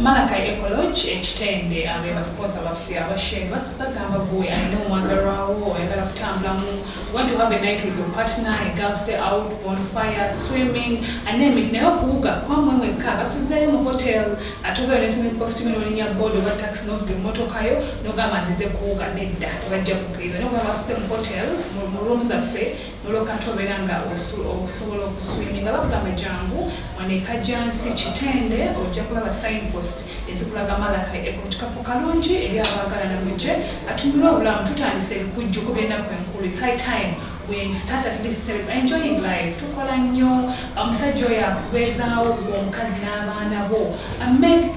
Malakai Ecolodge e Kitende be basipooza baffe abasheeyi basi bagamba gwe alina omwagalwa wo oyagala kutambulamu you want to have a night with your partner a girls day out bonfire swimming and name it naye okuwuga kwamwe mwekka basuzeeyo mu hotel ate obeera ne swimming costume n'olinya board oba taxi n'ovuga emmotoka yo n'ogamba nzize kuwuga nedda tebajja kukkiriza naye okuba basuze mu hotel mu room zaffe olwo kati obeera nga okusobola okuswiminga bakugamba jangu wanekajansi kitende ojja kulaba signpost ezikulaga malaka ekutikafu kalungi eri abaagalana muje atumire obulamu tutandise ebikujju ku byennaku enkulu its high time we start at least enjoying life tukola nnyo omusajja oyo akubeezaawo omukazi n'abaana bo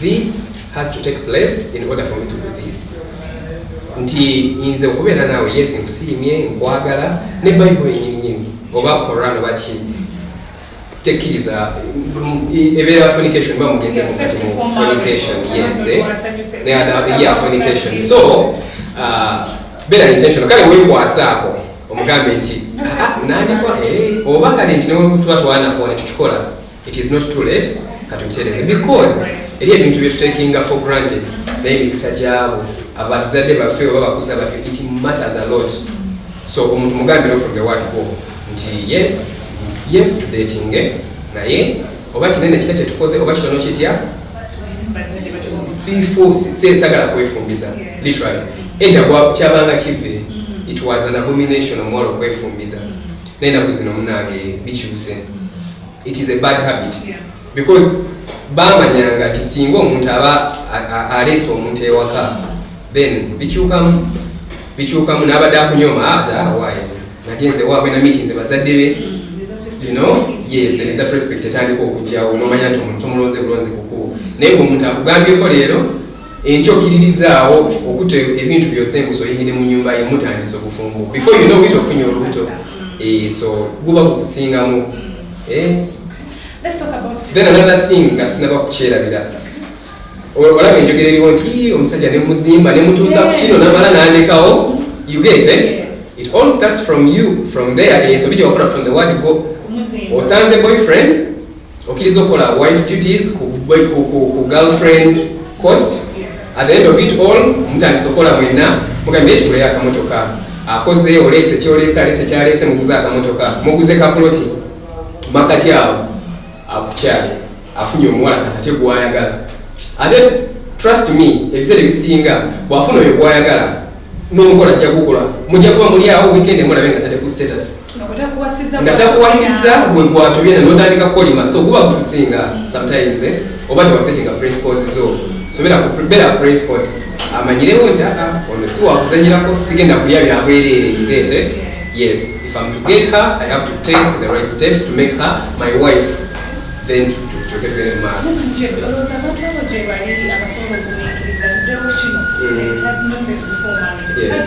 This has to take place in order for me to do this. Nti nze okubeera naawe yes nkusiimye nkwagala ne Bible yenyini nyini oba Quran oba ki tekkiriza ebeera fornication ba mugenze mu kati mu fornication yes eh? ne ada yeah fornication so uh, beera intentional kale weekwasaako omugambe nti ah, nandikwa eh, oba kale nti newetuba twana fone tukikola It is not too late katubitereze because eri ebintu byetutekinga for granted naye mikisa gyabo abatizadde baffe oba bakuza baffe it matters a lot so omuntu mugambiro from the word go nti yes yes to dating eh? naye oba kinene kitya kyetukoze oba kitono kitya sisagala kwefumbiza literally enda kyabanga kive mm-hmm. it was an abomination omwala okwefumbiza naye naku zino munange bikyuse it is a bad habit because bamanyanga nti singa omuntu aba aleese omuntu ewaka then bikyukamu bikyukamu n'abadde akunyoma ate ah, awaaye ah, nagenze waabwe na meeting ze bazadde be you know yes there is that respect etandika okujjawo nomanya nti omuntu tomulonze bulonzi kukubo naye ngaomuntu akugambyeko leero enkyo okiririzaawo okuta ebintu byose engusa oyingire mu nyumba ye mutandisa obufumbo before you know it ofunye olubuto eh, so guba gukusingamu eh? then another thing nga sinaba kukyerabira olaba enjogera eriwo nti omusajja nemuzimba nemutuusa ku kino namala nandekawo you get eh? it all starts from you from there ensobi gyewakola from the word go osanze boyfriend okiriza okola wife duties ku girlfriend cost at the end of it all mutandisa okola mwenna mugambye nti kuleyo akamotoka akoze oleese kyoleese aleese kyaleese muguze akamotoka muguze kapuloti makati awo akukyale afunye omuwala kakate gwayagala ate trust me ebiseera ebisinga bwafuna oyo gwayagala n'omukola ajja kukola mujja kuba muli awo weekend emulabe nga tadde ku status nga takuwasizza gwe gwatubye na notandika kukolima so guba gutusinga mm. sometimes eh? oba tewasetinga principles zo so beera principle amanyirewo nti aa ah, ono si wakuzanyirako sigenda kulya byabwereere ngete yes if im to get her i have to take the right steps to make her my wife then tukyoketwere mu maaso mm. Yes.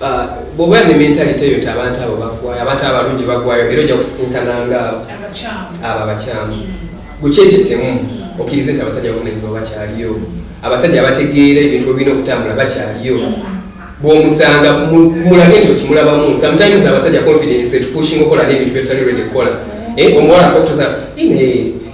Ah, bwoba ne mentalite eyo ti abantu abo bagwayo abantu abalungi bagwayo era ojja kusisinkananga abo abakyamu mm. gukyetekemu mm. okkirize nti abasajja abavunanyizibwa bakyaliyo abasajja abategeera ebintu obirina okutambula bakyaliyo mm. bwomusanga mulage nti okimulabamu sometimes abasajja confidence etupushing okola nebintu byetutali redi kukola eh, omuwala asobola kutusa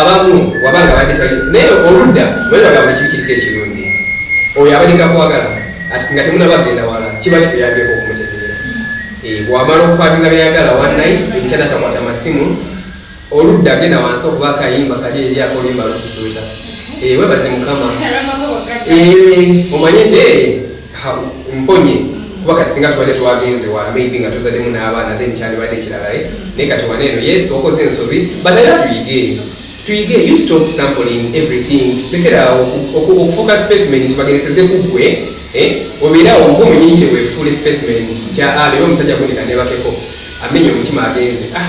abamu wabanga abadde tali naye oludda mweraga buli kibi kiriko ekirungi oyo abadde takwagala nga temunaba agenda wala kiba kikuyambyeko okumutegeera eh, bwamala okukwatinga byeyagala one night ekyana takwata masimu oludda agenda wansi okuba akayimba kali eri akolimba lukusuuta eh, webaze mukama eh, omanye nti mponye kuba kati singa tubadde twagenze wala maybe nga tuzademu n'abaana then kyandibadde kirala eh? naye kati wana eno yes okoze ensobi but era tuyige tuyige you stop sampling everything lekeraawo okufuuka specimen nti bagereseze ku ggwe eh? obeerawo ng'omunyinyi wefuule specimen nti aa ah, leero omusajja gunika nebakeko amenya omutima agenze ah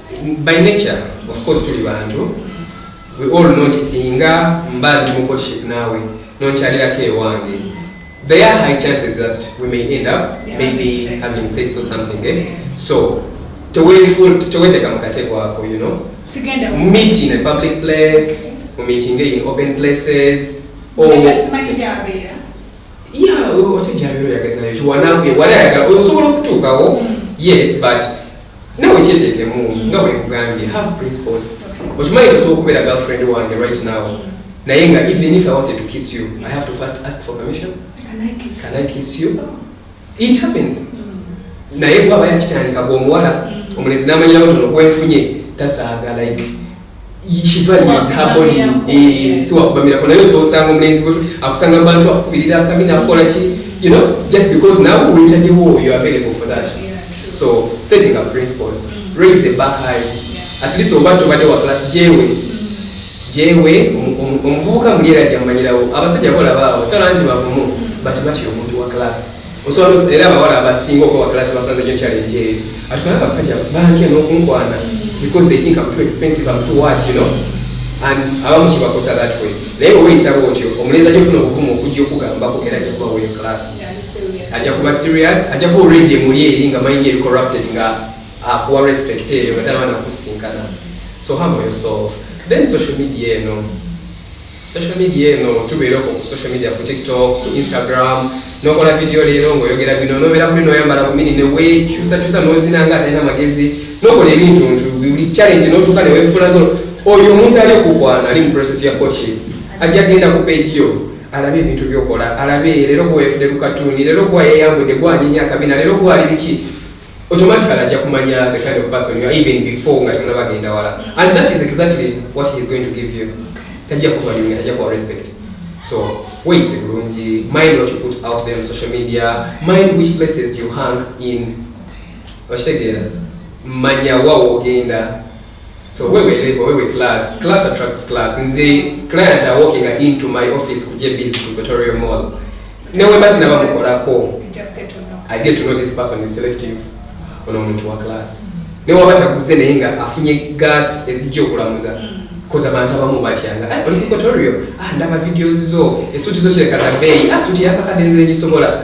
by nature of course tuli bantu we all know nti singa mba ndi mu courtship naawe nonkyalirako ewange there are high chances that we may end up maybe having sex or something eh? so teweteka mukatego ako you know meet in a public place mu meeting in open places or ya ote gyabera oyagazayo ekyo wanange wali ayagala osobola okutuukawo mm. yes but nawe kyeteekemu mm. nga bwekugambye have principles okimanyi tosobola okubeera girlfriend wange right now mm. naye nga even if i wanted to kiss you i have to first ask for permission can i kiss you it happens naye bwaba yakitandika gwe omuwala mm. omulenzi namanyirawo tono gwenfunye tasaaga like eh, siwakubamirako naye ososanga omulenzi akusanga mubantu akukubirira akabi nakukola ki you know just because nawe wetaddewo you available for that so setting up principles mm. raise the bar high at least oba tobadde wa class jewe mm. Jewe omuvubuka muli era jamanyirawo abasajja bolaba awo tola nti bavumu bati batya omuntu wa class osobola era abawala abasinga okuba wa class basanze nyo challenge eyo atukana abasajja bantya n'okunkwana because they think I'm too expensive I'm too what you know and abamu kibakosa that way naye weyisa bwotyo omulenzi ajja ofuna obuvumu okujja okugambako era ajja kuba weyo class ajja kuba serious ajja kuba already muli eri nga mind eri corrupted nga akuwa respect eyo nga talaba nakusinkana so humble yourself then social media eno social media eno tubeera okwo ku social media ku tiktok ku instagram nokola vidiyo leero ngaoyogera bino nobeera kuli noyambala bumini newekyusakyusa nozina nga atalina magezi nokola ebintu ntu buli challenge notuuka newefuula zo oyo omuntu ali okukwana ali mu process ya courtship ajja genda ku page yo alabe ebintu byokola alabe leero gwewefude lukatuuni leero gwayeyambudde gwanyinya akabina leero gwali biki automatically ajja kumanya the kind of person you are even before nga temunaba agenda wala and that is exactly what he is going to give you tajja kuba you tajja kuba respect so ways bulungi mind what you put out there on social media mind which places you hang in okitegeera manya wawo ogenda so wewe level wewe class class attracts class nze client are walking into my office ku JB's Victoria Mall newe basi na bamukolako I get to know this person is selective ono omuntu wa class mm. ne waba takuze naye nga afunye guts ezijja okulamuza mm. koza abantu abamu batyanga ah, oli Victoria ah ndaba videos zo esuti zo kireka za beeyi ah suti yakakade nze ngisobola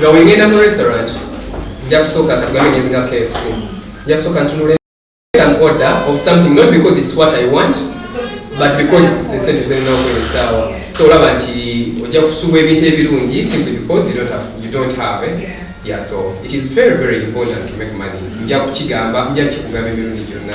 nga wengenda mu restaurant nja kusooka katugambe ngenzi nga kfc nja kusooka ntunula an order of something not because it's what i want but because zesente zirina okwera essaawa so olaba nti ojja kusubwa ebintu ebirungi simply because you don't have, you don't have it. Eh? Yeah, so it is very, very important to make money. Nja kukigamba, nja kikugamba emirundi gyonna.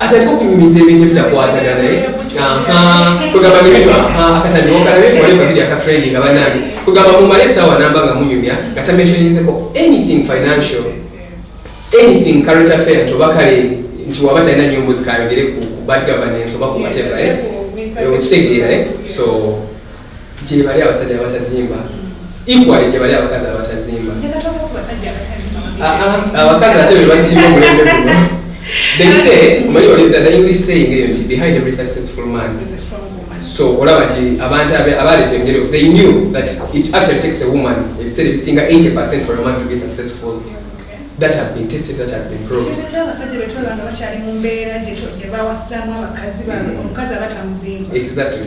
atandika okunyumiza ebintu ebitakwatana naye kwegamba nebitwa akatambi okalabe wali okavidi akatraining abanange kwegamba mumale esaawa namba nga munyumya nga tameshoninzeko anything financial anything current affair nti oba kale nti waba talina nyombo zikayogere ku bad governance oba ku whatever eh? okitegeera eh? so gyebali abasajja abatazimba equally gyebali abakazi abatazimba abakazi ate bebasinga omulembe guno they say omanyi oli the english saying eyo nti behind every successful man so olaba nti abantu abaleeta engeri they knew that it actually takes a woman ebiseera ebisinga 80 percent for a man to be successful that has been tested that has been proved exactly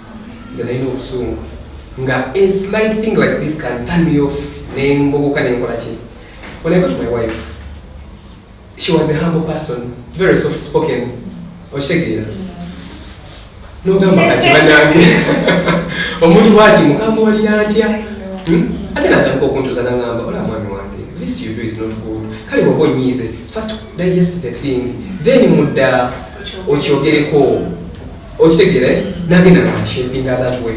nze nalina obusungu nga a slight thing like this can turn me off nembogoka nenkola ki when i got my wife she was a humble person very soft spoken oshegeera nogamba kati banange omuntu bwati mugamba walira ntya hmm? ate natandika okuntuza nangamba ola mwami wange this you do is not good kale waba onyiize first digest the thing then mudda okyogereko okitegera eh? nagenda nashapinga that way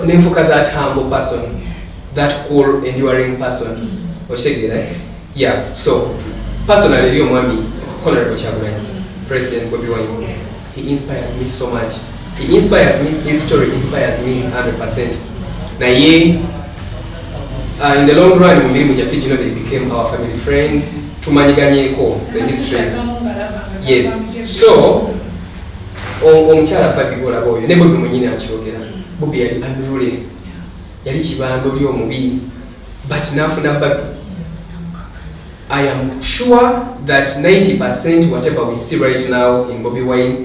nenfuka that humble person that cool enduring person okitegera eh? yeah so personal eri omwami honorable kyagulanyi president bobi wine he inspires me so much he inspires me his story inspires me 100 percent naye uh, in the long run mu mirimu gyaffe gino they became our family friends tumanyiganyeko the histories yes so omukyala abadde golaba oyo ne bobi mwenyini akyogera bobi yali unruly yali kibanda oli omubi but nafuna babi i am sure that 90 percent whatever we see right now in bobi wine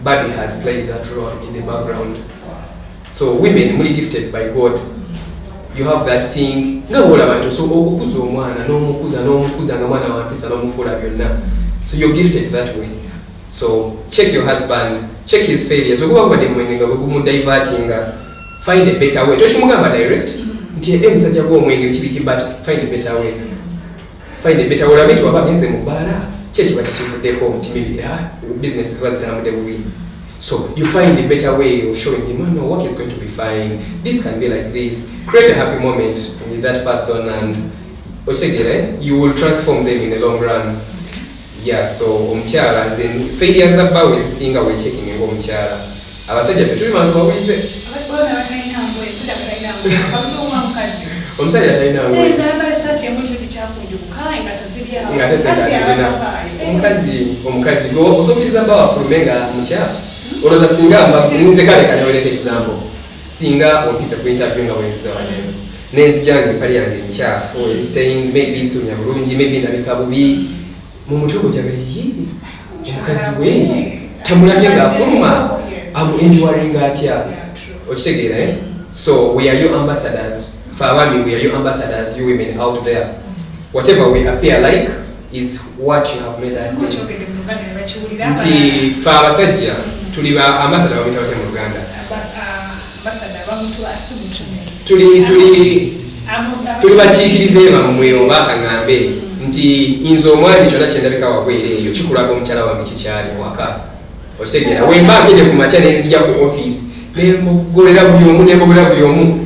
babi has played that role in the background so women muli gifted by god you have that thing nga bwolaba nti osobola okukuza omwana n'omukuza n'omukuza nga mwana wampisa n'omufuula byonna so you're gifted that way so check your husband check his failures okuba kubadde mwenge nga gwegumudivertinga find a better way tokimugamba direct nti e musajja gwomwenge kibiki but find a better way find a better way olabe nti waba agenze mu bbaala kyekiba kikivuddeko nti maybe ah, business ziba zitambudde bubi so you find a better way of showing him oh, no work is going to be fine this can be like this create a happy moment with that person and okitegere you will transform them in the long run Yeah so omukyala nze failure za bba wezisinga we checking nga omukyala abasajja ffe tuli bantu bawize omusajja talina omukazi omukazi gwe osokiriza bba wafulume nga mukyafu hmm? olwoza singa mba nze kale kanyoleka example Singa ompize ku interview nga wenziza waneno nenzija nga empale yange enkyafu mm. staying maybe sunya bulungi maybe nabika bubi mu mutwe gutyaga yi omukazi we tamulabye ng'afuluma amuenduwaringa atya okitegeera eh? so we are your ambassadors fe abaami we are your ambassadors you women out there whatever we appear like is what you have made us get nti fe abasajja tuli ba ambasada bamuyita batya mu luganda tuli tuli tuli bakiikiriza ebamwe oba akaŋambe nti nze omwami kyona kyendabika wagwera eyo kikulaga omukyala wange kikyali waka okitegeera wemba nkede ku makya nenzija ku office nembogolera buli omu nembogolera buli omu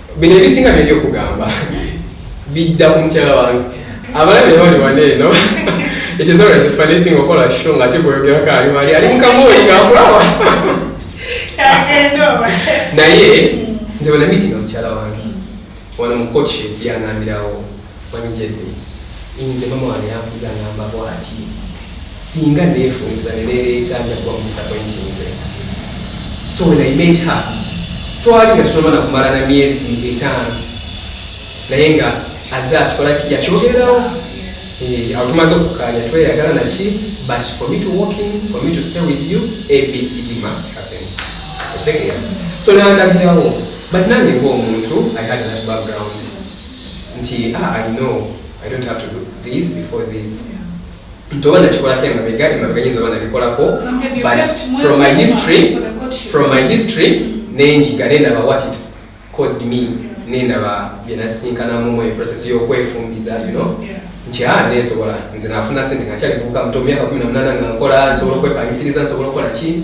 bino ebisinga byali okugamba bidda ku mukyala wange abalabe bali wane eno it is always a funny thing okola show nga ate gweyogerako ali wali ali mukamooli ngaakulawa naye nze wena mitinga mukyala wange wano mu courtship yanambirawo Mwami Jeffrey, inze mama wange yankuza angamba bwati, singa nefunza ne nereeta nja kuba mudisappointinze. So when I met her, twali nga tetunamala kumala na myezi etaano naye nga aze atukola ki yakyogererawo eh, awo tumaze okukkaanya tweyagala naki but for me to walk in for me to stay with you abcd must happen okitegeera so nandagirawo but nange ngaomuntu i had that background nti ah, i know i don't have to do this before this ntoba nakikolako emabega emabega nyinza oba nabikolako but from my history from my history mm. nenjiga nenaba what it caused me nenaba byenasinkanamu mu process yokwefumbiza you know nti a ah, nesobola nze nafuna sente ngakyalivubuka muto myaka kumi namunana nga nkola nsobola okwepangisiriza nsobola okukola ki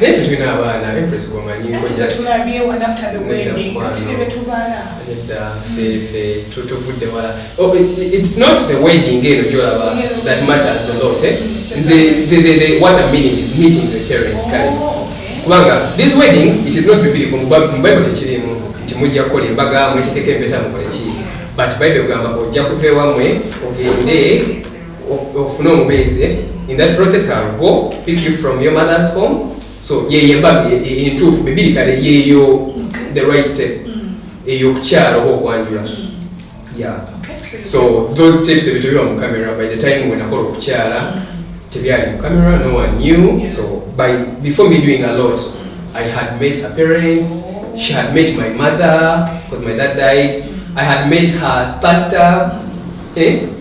naye tetulina abaana empress gwomanyi fefe tutuvudde wala oh, its not the wedding eno gyolaba that matters a lot eh? nze what am meaning is meeting the parents kale oh, kubanga these weddings it is not bibiri mu bible tekirimu nti mujja kukola embaga mwetekeko empeta mukoleki but bible egamba ojja kuva ewamwe ogende ofune omubeezi in that process I'll go pick you from your mother's home so yeyo embaga entuufu bibiri kale yeyo the right step mm. eyo okukyala oba okwanjula mm. yeah so those steps ebyo tebiba mu camera by the time wenakola okukyala mm. tebyali mu camera no one knew so by before me doing a lot i had met her parents she had met my mother because my dad died i had met her pastor eh?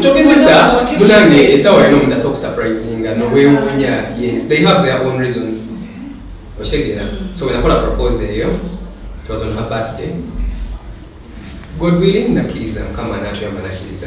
kyogezesa munange esawa yona omuntu asobola okusurprisinga nowewunya yes they have their own reasons okitegeera mm. so wenakola propose eyo it was on her birthday god willing nakkiriza mukama anatuyamba nakkiriza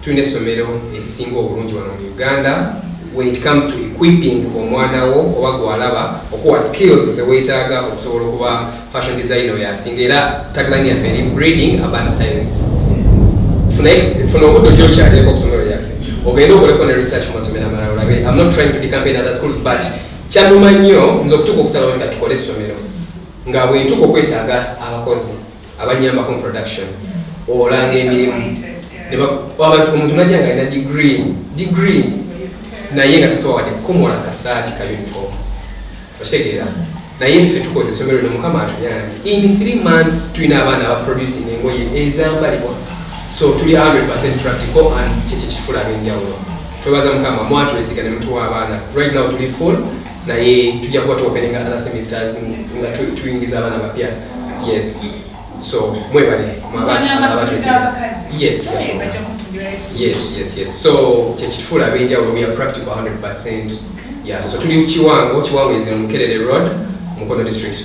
Tulina essomero erisinga obulungi wano mu Uganda when it comes to equipping omwana wo oba gwalaba okuwa skills zewetaaga okusobola okuba fashion design oyo asinga era tagline yaffe eri breeding urban stylists funa obudde okyokyalireko okusomero lyaffe ogende okoleko ne research mu masomero amalala olabe am not trying to become in other schools but kyanuma nnyo nze okutuuka okusalawo nti katukole essomero nga bwentuuka okwetaaga abakozi abanyambako mu production olanga emirimu omuntu najja nga alina degree degree naye nga tasobola wadde kukomola kasaati ka uniform okitegeera naye ffe tukoze esomero lino mukama atuyambi in three months tulina abaana abaproducing engoye ezambalibwa so tuli 100 practical and kyekyo kifula abenjawulo twebaza mukama mwatuwesiga ne mutuwa abaana right now tuli full naye tujja kuba tuopeninga other semesters nga tuyingiza abaana bapya yes so mwebale yes yes yes yes so kyekifuula abenjawulo we are practical 100 percent yeah so tuli kiwango kiwango is in mukerere road mukono district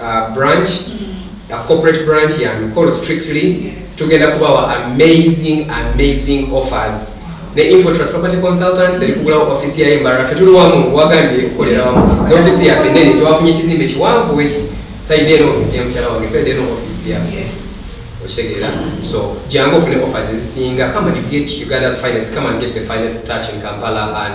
uh, branch mm. a corporate branch ya mikolo strictly yes. tugenda kubawa amazing amazing offers ne infotrust property consultants erikugulawo mm. office yayo embara fe tuli wamu wagambye okukolera wamu ze office yafe nene tewafunye ekizimbe kiwanvu weki saide eno office ya mukyala wange saide eno office ya yeah. okitegeera so jangu ofune offers ezisinga come and get uganda's finest come and get the finest touch in kampala and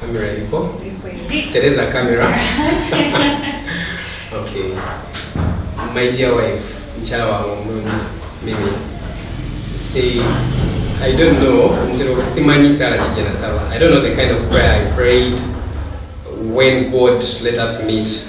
Camera ipo. Tereza camera. Okay. My dear wife, mchala wa omulungi mimi. Say I don't know ntero simanyi sala kijana sala. I don't know the kind of prayer I prayed when God let us meet.